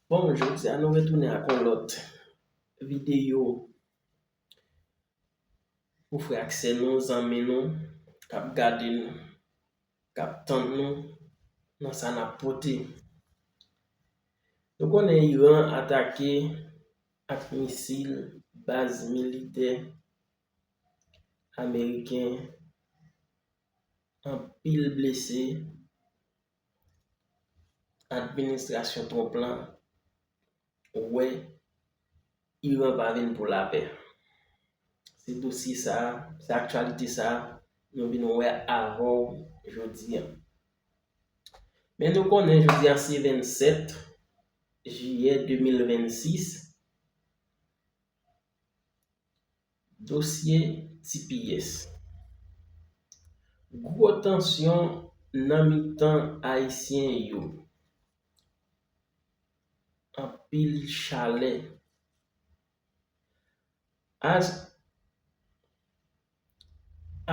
Bon jodi a nou retounen ak yon lòt videyo pou frè ak sè nou, zanmi nou kap gade nou, kap tand nou nan sa nap pote. Nou konnen Iran atake ak misil baz militè ameriken, anpil blese. Administrasyon Trump la wè Iran pa vin pou lapè. Se dosye sa, se aktyalite sa nou vin wè avè w jodi an. Men nou konnen jodi an se 27 jiyè 2026. Dosye tps. Gwo tansyon nan mitan ayisyen yo. Anpil chalè. As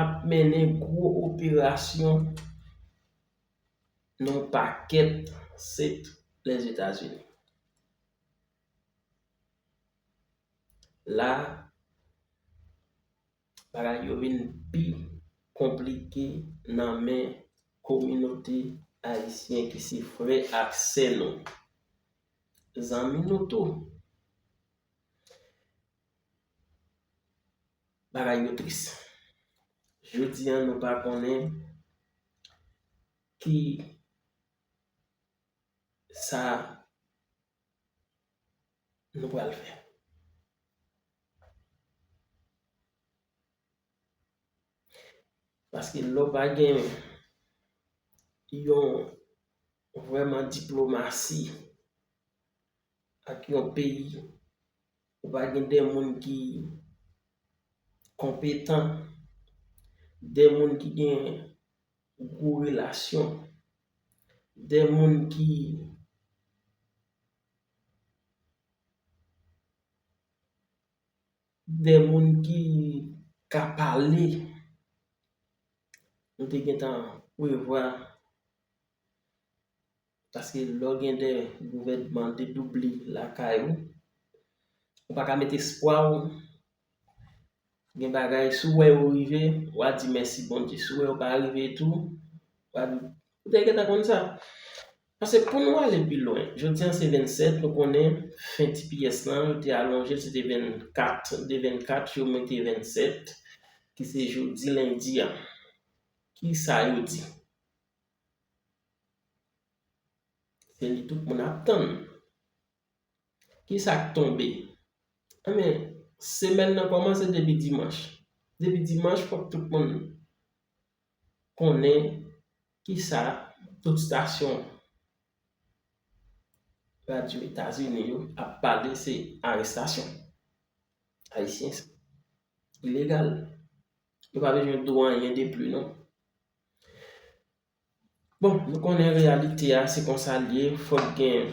ap mennen gwo operasyon nan yon pakèt sèk Lèzetazini. La bagay yo vin pi konplike nan men kominote ayisyen ki se frè ak sè nou, zanmi nou tou. Bagay yo tris. Jodi an nou pa konnen ki sa nou pral fè. Paske lè w pa gen yon vrèman diplomasi ak yon peyi. Ou pa gen de moun ki konpetan, de moun ki gen gwo relasyon, de moun ki de moun ki ka pale. Nou te gen tan prevwa. Paske lè w gen 2 gouvènman dedoubli lakay ou, ou pa ka met espwa w, gen bagay si w wè yo rive, w a di mèsi Bondye, si w wè yo pa rive tou, w a di, ou te gentan konn sa. Paske pou nou ale pi lwen, jodi an se 27, nou konnen fen tps lan yo te alonje l se te 24, de 24 yo mete 27 ki se jodi lendi a. Ki sa yo di? Se li tout moun ap tann. Ki sa k tonbe? Enben, semèn nan kòmanse depi dimanch. Depi dimanch fòk tout moun konnen ki sa tout stasyon radyo Etazini yo ap pale se arestasyon. Ayisyen ilegal. Yo pa bezwen di w anyen depli non. Bon, nou konnen reyalite a, se konsa l ye, fòk gen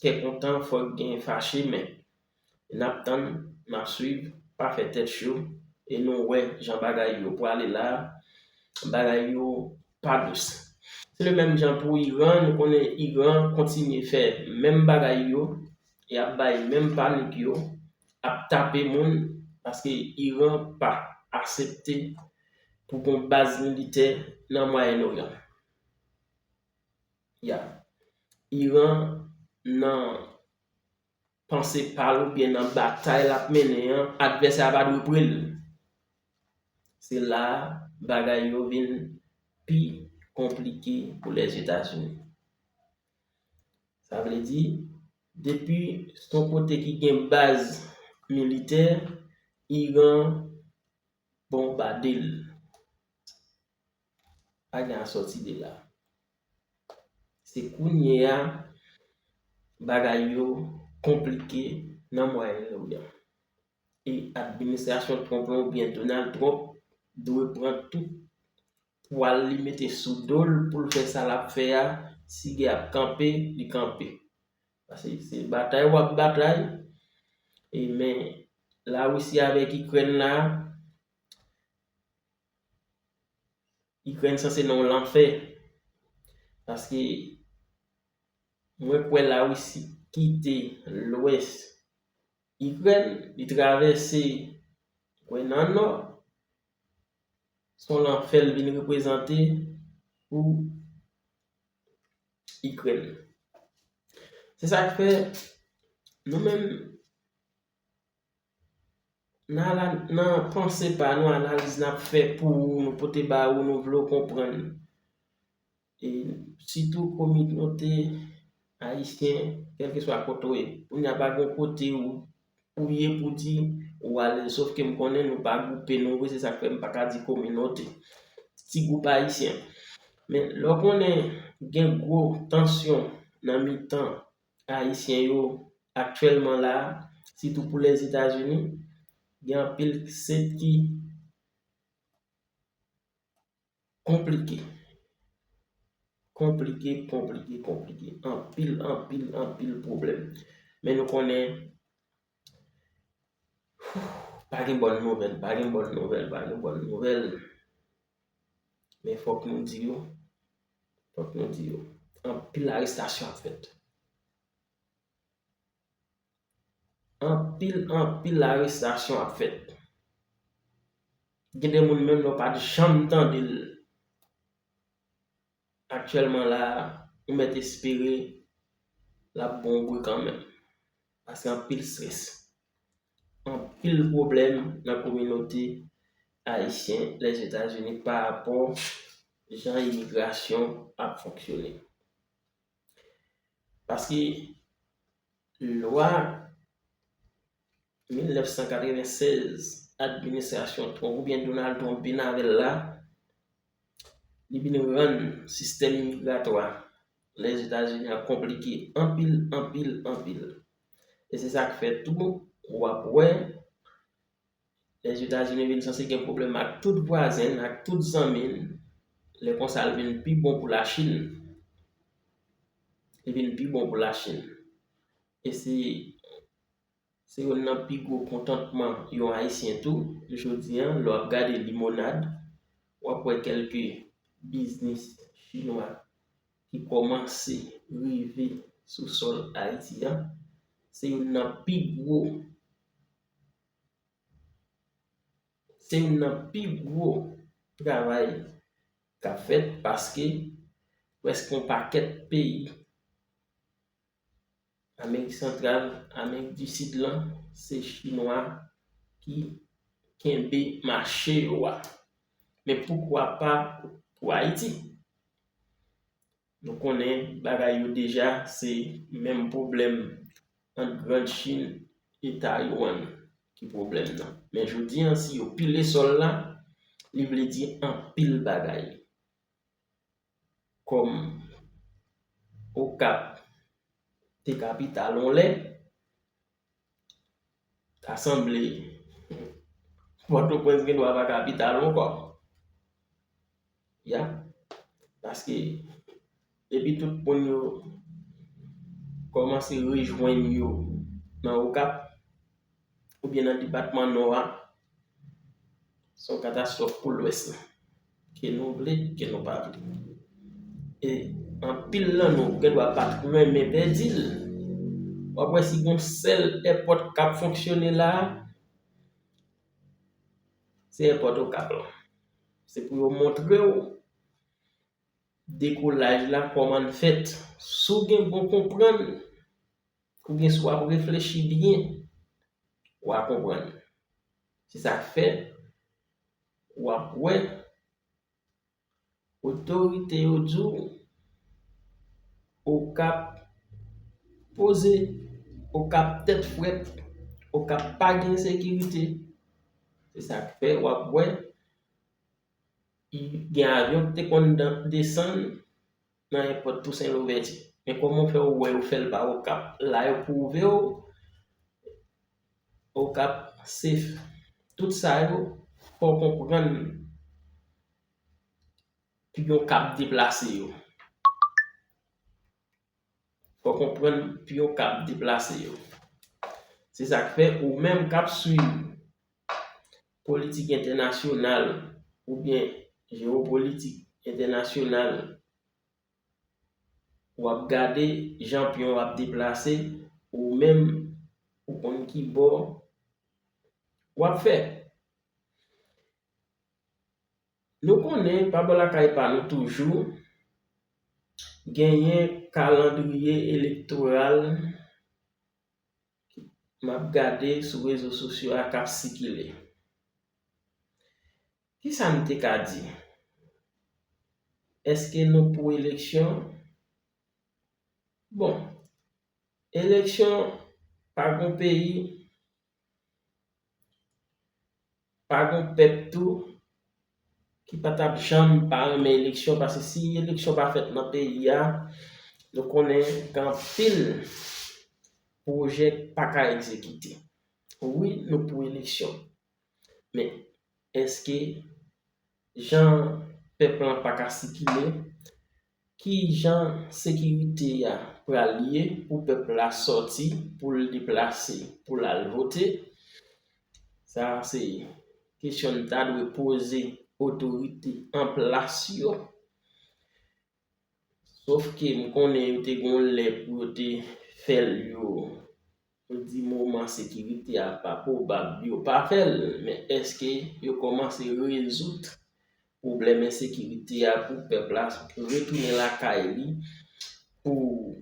kè kontan, fòk gen fache men, n ap tann, n ap swiv, pa fè tèt cho, e nou wè jan bagay yo pwale la, bagay yo pa dous. Se le menm jan pou Iran, nou konnen Iran kontinye fè menm bagay yo, y ap bay menm panik yo, ap tape moun paske Iran pa asepte pou gon baz militè nan Mwayen Oryan. Ya. Iran nan panse pa l oubyen nan batay l ap mennen an, advèsè a pa dwe pre l. Se la a bagay yo vin pi konplike pou Lèzetazini. Sa vle di, depi s on kote ki gen baz militè, Iran bonbade l. Pa gen asòti de la. Se kounye a bagay yo konplike nan Mwayen Oryan. E administrasyon Trump lan oubyen Donald Trump dwe pran tout pwal li mete sou dol poul fè sa lap fè a si gè ap kanpe li kanpe paske se batay wap batay e men la russie avèk ikrèn la ikrèn sanse nan yon lanfè paske mwen kwè la russie kite lwès ikrèn li travèse mwen nan nò son lanfè l vin reprezante pou Ikrèn. Se sa k fè, nou menm, nan panse pa nou, analiz n ap fè pou ou, nou pote ba ou, nou vle w konprann. e sitou kominote ayisyen kèlkeswa kote ou ye kounya pa gen kote ou ye pou di ou ale sof ke m konnen nou pa gwoupe nou vre se sa k fè m pa ka di kominote ti gwoup ayisyen men lè w konnen gen gwo tansyon nan mitan ayisyen yo aktyèlman la a sitou pou lèzetazini gen anpil sèt ki Konplike. Konplike, konplike, konplike. Anpil, anpil, anpil pwoblèm. Men nou konnen, pa gen bòn nouvèl, pa gen bòn nouvèl, pa gen bòn nouvèl. Men fòk nou di yo, fòk nou di yo. Anpil arestasyon ap fèt. Anpil anpil arestasyon ap fèt. Gen de moun menm lè w pa t janm tande l. Aktyèlman la a, ou mèt espere l ap bon bri kanmenm. Paske anpil strès. Anpil pwoblèm nan kominote ayisyen Lèzetazini pa rapò jan imigrasyon ap fonksyone. Paske Lwa 1996 administrasyon Trump oubyen Donald Trump vin avè l la, li vin rann sistèm imigratwa Lèzetazini an konplike anpil, anpil, anpil. E se sa k fè tou w ap wè Lèzetazini vin sanse gen pwoblèm ak tout vwazen l, ak tout zanmi l, lè konsa l vin pi bon pou Lachin. Li vin pi bon pou Lachin. E se se youn nan pi gwo kontantman yon Ayisyen tou, jodi an, lè w ap gade limonad, w ap wè kèlke biznis chinwa ki kòmanse rive sou sòl Ayiti an. Se youn nan pi gwo. Se youn nan pi gwo travay k ap fèt paske prèske yon pakèt peyi Amerik Santral, Amerik di Sid lan se Chinwa ki kenbe mache yo a. Men poukwa pa pou Ayiti? Nou konnen bagay yo deja se menm pwoblèm ant grand chine e Taiwan ki pwoblèm nan. Men jodi an si yo pile sòl la li vle di anpil bagay. Kòm Okap te kapital yon lè, Ta sanble Pòtoprens gen dwa pa kapital ankò. Yap, paske depi tout moun yo kòmanse rejwenn yo nan Okap oubyen nan depatman Nò a, se yon katastwòf pou Lwès la. Ke nou vle, ke nou pa vle. E anpil nan nou gen dwa pa t renmen pèdi l. W ap wè si gen yon sèl èpòt k ap fonksyone la a, se èpòt Okap lan. Se pou yo montre w dekolaj la kòman l fèt. Si w gen bon konprann, oubyen si w ap reflechi byen, w a konprann. Se sa k fè. Wap wè otorite yo di w Okap poze, Okap tèt frèt, Okap pa gen sekirite. Se sa k fè wap wè gen avyon ki te konn desann. Nan èpòt Tousen Louvèti. Men kòman ou fè ou wè yo fèl pa Okap la yo pwouvew Okap safe tout sa yo fòw konprann piyon kap deplase yo fòw konprann piyon kap deplase yo se sak fè ou menm kap swiv politik entènasyonal oubyen jewopolitik entènasyonal w ap gade jan pyon w ap deplase ou menm ou konn ki bò w ap fè. Nou konnen pa bò lakay pa nou toujou genyen kalandriye elektoral. map gade sou rezo sosyo a kap sikile. Kisa nou te ka di? Eske nou pou eleksyon? Bon, eleksyon pa gon peyi. Pa gon pèp tou ki pa tap janm pa renmen eleksyon paske si eleksyon pa fèt nan peyi a nou konnen gen anpil pwojè ki pa ka egzekite. Wi nou pou eleksyon men eske jan pèp lan pa ka sikile Ki jan sekirite a pral ye pou pèp la sòti pou l deplase pou l al vote? Sa a se kesyon n ta dwe poze otorite an plas yo. Sof ke m konnen yo te gen yon lè pou yo te fè l yo Ou di moman sekirite a pa pwobab yo pa fè l, men èske yo kòmanse rezoud pwoblèm ensekirite a pou pèp la retounen lakay li, pou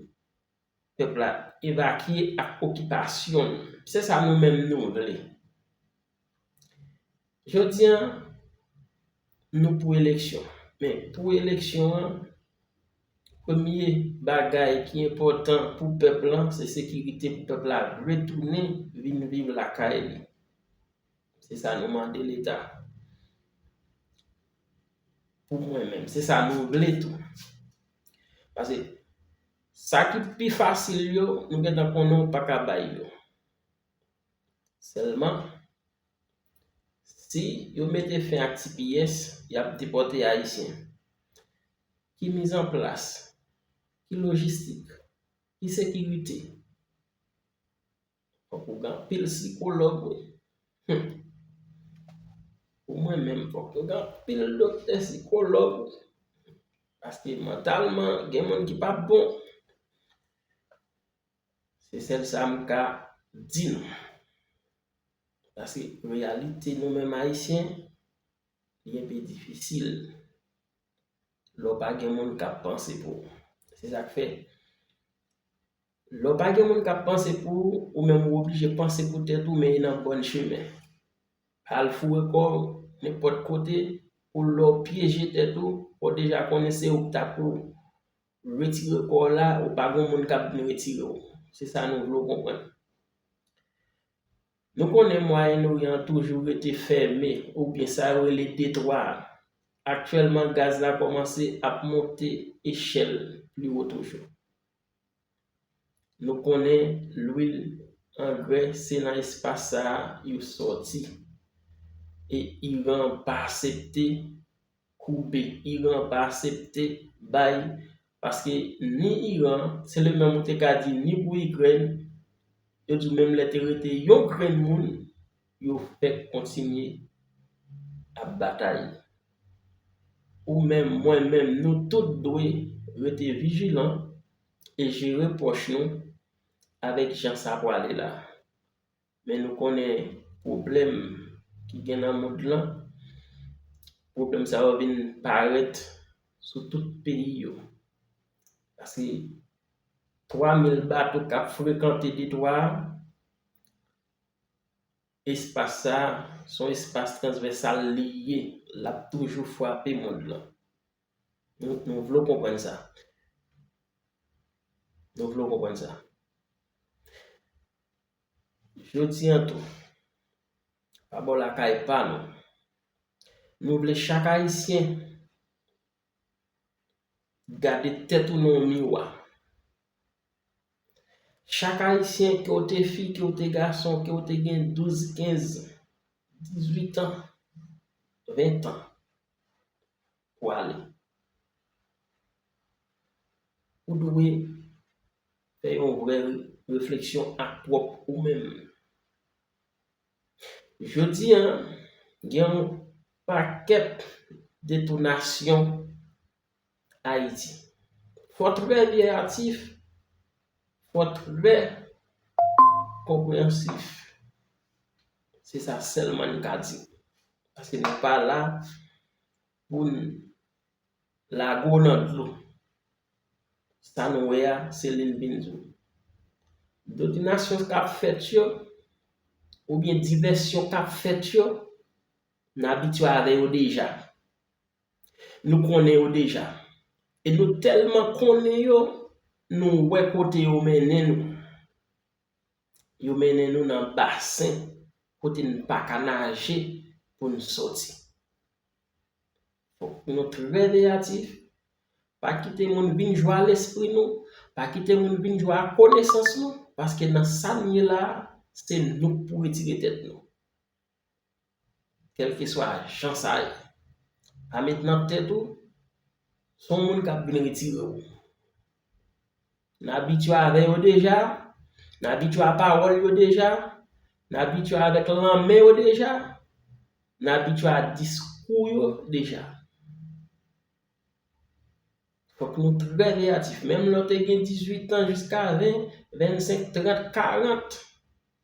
pèp la evakye ak okipasyon l? Se sa nou menm nou vle. Jodi an, nou pou eleksyon. Men, pou eleksyon an, premye bagay ki enpòtan pou pèp lan, se sekirite pou pèp la retounen vin viv lakay li. Se sa nou mande Leta. Pou mwen menm, se sa nou vle tou. Pase, sa ki pi fasil yo, nou gentan konnen ou pa ka bay yo. Sèlman, si yo mete fen ak tps, y ap depòte Ayisyen. Ki mizanplas, ki lojistik, ki sekirite? Fòk ou gen anpil sikològ wi. Hum! Pou mwen menm, fòk yo gen anpil doktè sikològ wi. Paske mantalman, gen moun ki pa bon. Se sèl sa m ka di nou. Paske reyalite nou menm Ayisyen, li enpe difisil. Lè w pa gen moun k ap panse pou ou. Se sa k fè, lè w pa gen moun k ap panse pou ou, ou menm ou oblije panse pou tèt ou men e nan bòn chemen. Pa al foure kò w nenpòt kote pou lè w pyeje tèt ou, ou deja konnen se ou k ta pou ou. Retire kò w la, ou pa gen moun k ap vin retire w. Se sa nou vle w konprann. Nou konnen Mwayen Oryan an toujou rete fèmen, oubyen sa yo rele detwa a. Aktyèlman gaz la kòmanse ap monte echèl pli wo toujou. Nou konnen lwil, angrè se nan espas sa a yo sòti. E Iran pa asepte. koube Iran pa asepte bay paske ni Iran se le menm ou te ka di ni pou Ikrèn yo di w menm lè te rete yon grenn moun yo fèk kontinye ap batay ou menm mwen menm nou tout dwe rete vijilan e jere pwòch nou avèk jan sa pwale la. Men nou konnen pwoblèm ki gen nan mond lan, pwoblèm sa yo vin parèt sou tout peyi yo. Paske 3 mil bato k ap frekante detwa a, espas sa a, s on espas transvèsal li ye, l ap toujou frape mond lan. Nou vle w konprann sa. Nou vle w konprann sa. Jodi an tou, pa bò lakay pa nou, nou vle chak Ayisyen gade tèt ou nan yon miwa. Chak Ayisyen, ke w te fi, ke w te gason, ke w te gen 12, 15, 18 an, 20 an. pwale. Ou dwe fè yon vrè refleksyon ak pwòp ou menm. Jodi an, gen yon pakèt detonasyon Ayiti. Fò trè byen atif, fò trè konpreyansif. Se sa sèlman n ka di. Paske nou pa la pou n lago nan dlo. Sa nou wè a, se li n vin di w. Dominasyon k ap fèt yo, oubyen divèsyon k ap fèt yo, n abitye avè yo deja. Nou konnen yo deja. E nou tèlman konnen yo, nou wè kote yo mennen nou. Yo mennen nou nan basen kote n pa ka naje pou n soti. Fòk nou trè veyatif, pa kite moun vin jwe a lespri nou, pa kite moun vin jwe a konesans nou, paske nan sa n ye la a, se nou k pou retire tèt nou. Kèlkeswa jan sa ye, pa met nan tèt ou se yon moun k ap vin retire w. N abitye avè yo deja, n abitye a pawòl yo deja, n abitye avèk lanmen yo deja, n abitye a diskou yo deja. Fòk nou trè veyatif. Menm lè w te gen 18 tan jiska 20, 25, 30, 40.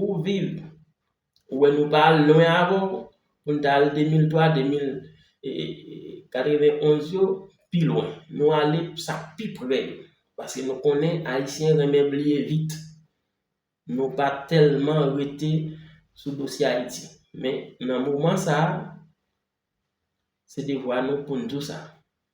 Ou viv. Ou wè nou pa al lwen avè w pou n ta al 2003, 2091 yo pi lwen. Nou ale pou sa k pi pre yo. Paske nou konnen Ayisyen renmen bliye vit. Nou pa tèlman rete sou dosye Ayiti. Men nan moman sa a, se devwa nou pou n di w sa.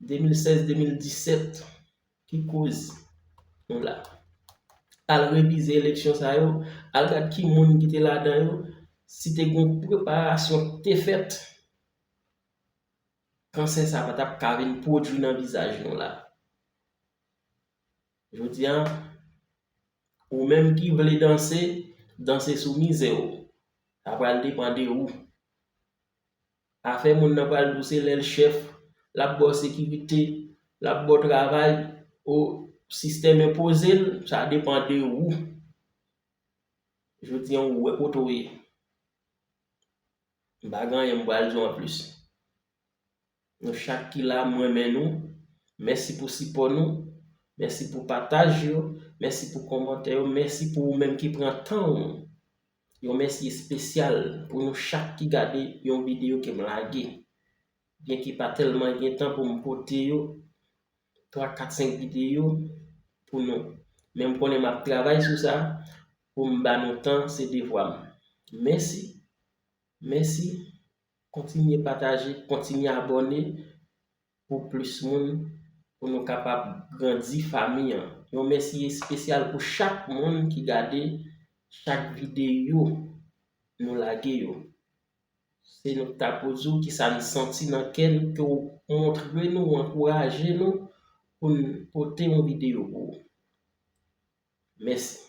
2016 2017 ki koz nou la. Al revize eleksyon sa yo, al gad ki moun ki te ladan yo, si te gen yon preparasyon ki te fèt, kansè sa pa tap ka vin pwodui nan vizaj nou la. Jodi an, ou menm ki vle danse, danse sou mizè w. Sa pral depan de ou. Afè moun nan pral dou se lèl chèf, lap baw sekirite, lap baw travay ou sistèm enpozel, sa depan de ou. Jodi an ou wè kote ou ye. M pa gen anyen m pral diw anplis. Nou chak ki la m renmen nou, mèsi pou sipò nou, mèsi pou pataj yo, mèsi pou kòmantè yo, mèsi pou ou menm ki pran tan ou Yon mèsi espesyal pou nou chak ki gade yon videyo ke m lage. Byenke pa tèlman gen tan pou m pote yo, 3, 4, 5 videyo pou nou. Men m konnen m ap travay sou sa pou m ba nou tan se devwa m. Mèsi, mèsi, kontinye pataje, kontinye abòne. pou plis moun pou nou kapab grandi fami an yon mèsi espesyal pou chak moun ki gade chak videyo nou lage yo se nou ki ta pou di w kisa nou santi nan kè nou ke w montre nou w ankouraje nou pou n pote yon videyo pou ou mèsi.